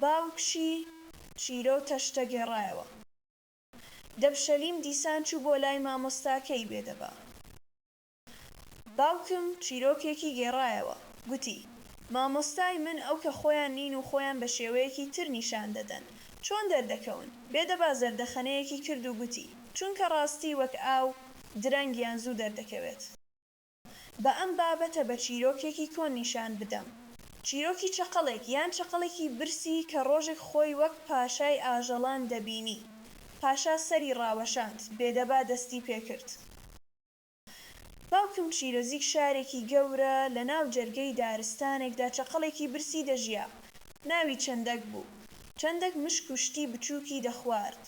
باوکی چیرۆ تەشتە گێڕایەوە. دەبشەلیم دیسان چوو بۆ لای مامۆستاکەی بێدەبا. باوکم چیرۆکێکی گێڕایەوە. گوتی، مامۆستای من ئەو کە خۆیان نین و خۆیان بە شێوەیەکی تر نیشان دەدەن، چۆن دەردەکەون؟ بێدەبا زەردەخەنەیەکی کرد و گوتی، چونکە ڕاستی وەک ئاو، درەنگ یان زوو دەردەکەوێت. با ئەم بابەتە بە چیرۆکێکی کۆن نیشان بدەم. چیرۆکی چەقەڵێک یان چەقەڵێکی برسی کە ڕۆژێک خۆی وەک پاشای ئاژەڵان دەبینی. پاشا سەری ڕاوەشاند، بێدەبا دەستی پێ کرد. باوکم چیرۆزیک شارێکی گەورە لە ناو جەرگەی دارستانێکدا چەقەڵێکی برسی دەژیا. ناوی چەندەک بوو. چەندەک مشک و شتی بچووکی دەخوارد.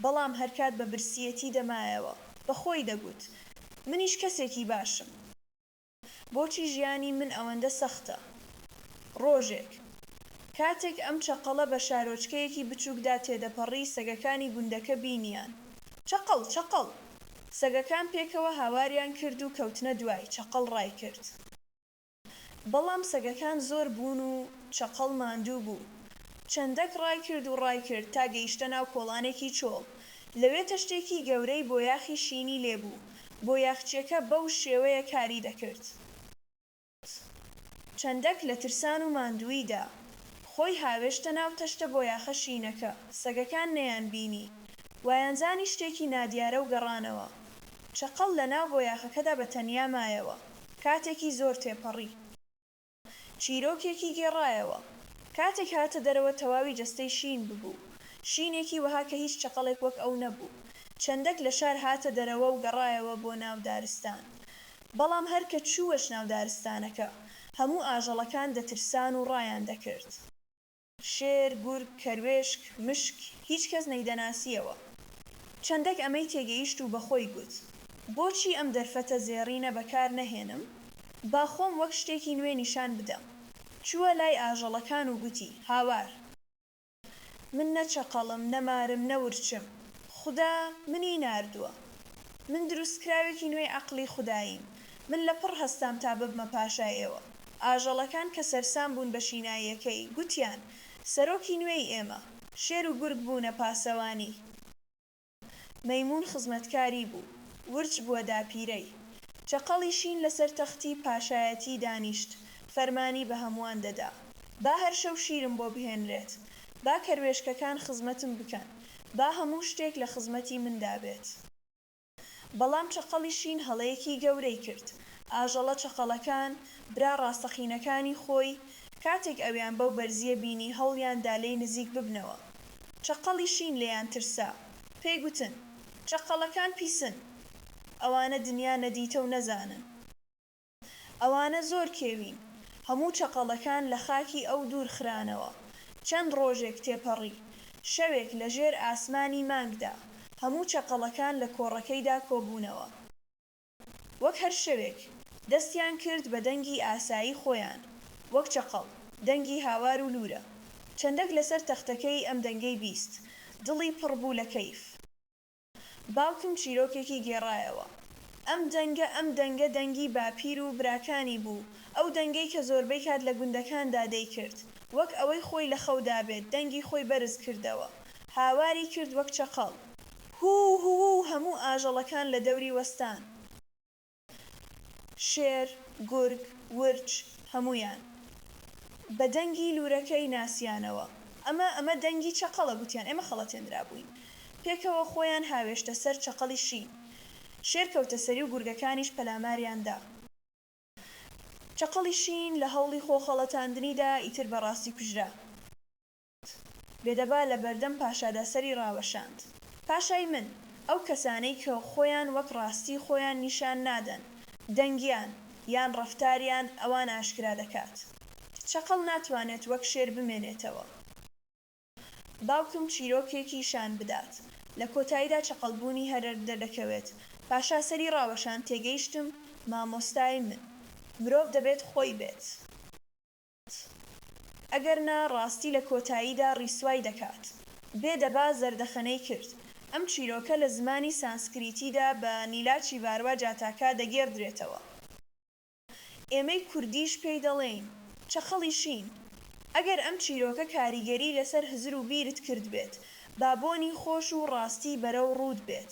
بەڵام هەرکات بە برسییەتی دەمایەوە، بە خۆی دەگوت، منیش کەسێکی باشم، بۆچی ژیانی من ئەوەندە سەختە؟ ڕۆژێک، کاتێک ئەم چەقەڵە بە شارۆچکەیەکی بچووکدا تێدەپەڕی، سەگەکانی گوندەکە بینییان. چەقەڵ! چەقەڵ! سەگەکان پێکەوە هاواریان کرد و کەوتنە دوای، چەقەڵ ڕایکرد. بەڵام سەگەکان زۆر بوون و چەقەڵ ماندوو بوو. چەندەک ڕای کرد و ڕای کرد تا گەیشتە ناو کۆڵانێکی چۆڵ. لەوێ تەشتێکی گەورەی بۆیاخی شینی لێ بوو. بۆیاخچییەکە بەو شێوەیە کاری دەکرد. چەندەک لە ترسان و ماندووییدا خۆی هاوێشتە ناو تەشتە بۆیاخە شینەکە. سەگەکان نەیان بینی. وایانزانی شتێکی نادیارە و گەڕانەوە. چەقەڵ لە ناو بۆیاخەکەدا بە تەنیا مایەوە. کاتێکی زۆر تێپەڕی چیرۆکێکی گێڕایەوە. کاتێک هاتە دەرەوە تەواوی جەستەی شین ببوو. شینێکی وەها کە هیچ چەقەڵێک وەک ئەو نەبوو. چەندەک لە شار هاتە دەرەوە و گەڕایەوە بۆ ناو دارستان. بەڵام هەر کە چووەچ ناو دارستانەکە، هەموو ئاژەڵەکان دەترسان و ڕایان دەکرد. شێر، گورگ، کەروێشک، مشک، هیچ کەس نەیدەناسییەوە. چەندەک ئەمەی تێگەیشت و بە خۆی گوت، بۆچی ئەم دەرفەتە زێڕینە بەکار نەهێنم، با خۆم وەک شتێکی نوێ نیشان بدەم. چووە لای ئاژەڵەکان و گوتی، هاوار! من نە چەقەڵم، نە مارم، نە ورچم. خودا منی ناردووە. من دروستکراوێکی نوێی عەقڵی خوداییم. من لەپڕ هەستام تا ببمە پاشای ئێوە. ئاژەڵەکان کە سەرسام بوون بە شیناییەکەی، گوتیان، سەرۆکی نوێی ئێمە، شێر و گورگ بوونە پاسەوانی، مەیموون خزمەتکاری بوو، ورچ بووە داپیرەی، چەقەڵی شین لەسەر تەختی پاشایەتی دانیشت، فەرمانی بە هەمووان دەدا، با هەر شەو شیرم بۆ بهێنرێت، با کەروێشکەکان خزمەتم بکەن، با هەموو شتێک لە خزمەتی مندا بێت. بەڵام چەقەڵی شین هەڵەیەکی گەورەی کرد، ئاژەڵە چەقەڵەکان برا ڕاستەقینەکانی خۆی کاتێک ئەویان بەو بەرزییە بینی هەوڵیان دا لێی نزیک ببنەوە. چەقەڵی شین لێیان ترسا، پێی گوتن، چەقەڵەکان پیسن، ئەوانە دنیا نەدیتە و نەزانن. ئەوانە زۆر کێوین. هەموو چەقەڵەکان لە خاکی ئەو دوور خرانەوە. چەند ڕۆژێک تێپەڕی. شەوێک لە ژێر ئاسمانی مانگدا، هەموو چەقەڵەکان لە کۆڕەکەیدا کۆبوونەوە. وەک هەر شەوێک، دەستیان کرد بە دەنگی ئاسایی خۆیان، وەک چەقەڵ، دەنگی هاوار و لوورە. چەندەک لەسەر تەختەکەی ئەم دەنگەی بیست، دڵی پڕ بوو لە کەیف. باوکم چیرۆکێکی گێڕایەوە. ئەم دەنگە ئەم دەنگە دەنگی باپیر و براکانی بوو، ئەو دەنگەی کە زۆربەی کات لە گوندەکاندا دەیکرد، وەک ئەوەی خۆی لە خەودا بێت، دەنگی خۆی بەرز کردەوە. هاواری کرد وەک چەقەڵ. هوو هوو و هەموو ئاژەڵەکان لە دەوری وەستان. شێر، گورگ، ورچ، هەموویان. بە دەنگی لوورەکەی ناسیانەوە. ئەمە، ئەمە دەنگی چەقەڵە، گوتیان. ئێمە خەڵەتێندرابووین. پێکەوە خۆیان هاوێشتە سەر چەقەڵی شین. شێر کەوتە سەری و گورگەکانیش پەلاماریان دا. چەقەڵی شین لە هەوڵی خۆ خەڵەتاندنیدا ئیتر بە ڕاستی کوژرا. بێدەبا لە بەردەم پاشادا سەری ڕاوەشاند، پاشای من! ئەو کەسانەی کە خۆیان وەک ڕاستی خۆیان نیشان نادەن، دەنگیان، یان ڕەفتاریان ئەوان ئاشکرا دەکات. چەقەڵ ناتوانێت وەک شێر بمێنێتەوە. باوکم چیرۆکێکی شان بدات، لە کۆتاییدا چەقەڵبوونی هەرەر دەردەکەوێت، پاشا سەری ڕاوەشاند، تێگەیشتم، مامۆستای من! مرۆڤ دەبێت خۆی بێت. دەکات ئەگەر نا ڕاستی لە کۆتاییدا ڕیسوای دەکات بێ دەبا زەردەخەنەی کرد ئەم چیرۆکە لە زمانی سانسکریتیدا بە نیلاچی ڤاروا جاتاکا دەگێڕدرێتەوە ئێمەی کوردیش پێی دەڵێین چەقەڵی شین ئەگەر ئەم چیرۆکە کاریگەری لەسەر هزر و بیرت کردبێت با بۆنی خۆش و ڕاستی بەرەو ڕووت بێت.